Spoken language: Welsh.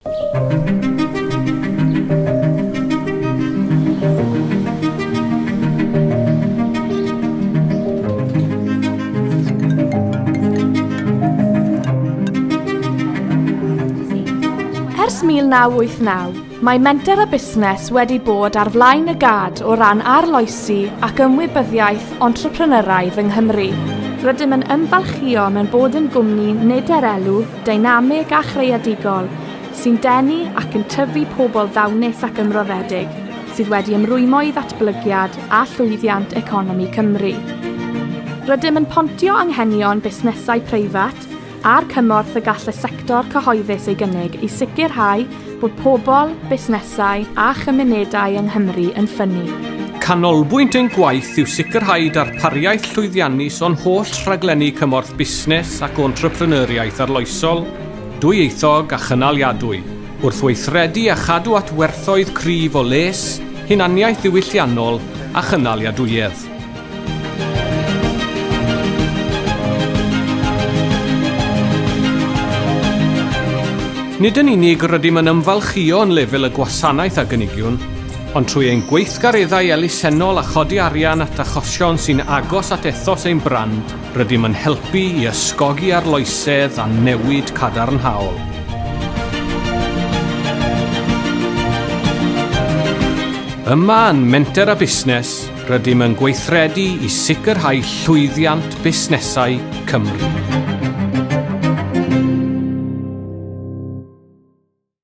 Ers 1989, mae Menter a Busnes wedi bod ar flaen y gad o ran arloesi ac ymwybyddiaeth entrepreneuraidd yng Nghymru. Rydym yn ymfalchïo mewn bod yn gwmni nid er elw, deinamig a chreadigol sy'n denu ac yn tyfu pobl ddawnus ac ymroddedig sydd wedi ymrwymo i ddatblygiad a llwyddiant economi Cymru. Rydym yn pontio anghenion busnesau preifat a'r cymorth y gall y sector cyhoeddus ei gynnig i sicrhau Bod pobl, busnesau a chymunedau yng Nghymru yn ffynnu. Canolbwynt ein gwaith yw sicrhau darpariaeth llwyddiannus o'n holl rhaglenni cymorth busnes ac entrepreneuriaeth arloesol, dwyieithog a chynaliadwy, wrth weithredu a chadw at werthoedd cryf o les, hunaniaeth ddiwylliannol a chynaliadwyedd. Nid yn unig rydym yn ymfalchïo yn lefel y gwasanaeth a gynigiwn, ond trwy ein gweithgareddau elusennol a chodi arian at achosion sy'n agos at ethos ein brand, rydym yn helpu i ysgogi arloesedd a newid cadarnhaol. Yma yn Menter a Busnes, Rydym yn gweithredu i sicrhau llwyddiant busnesau Cymru.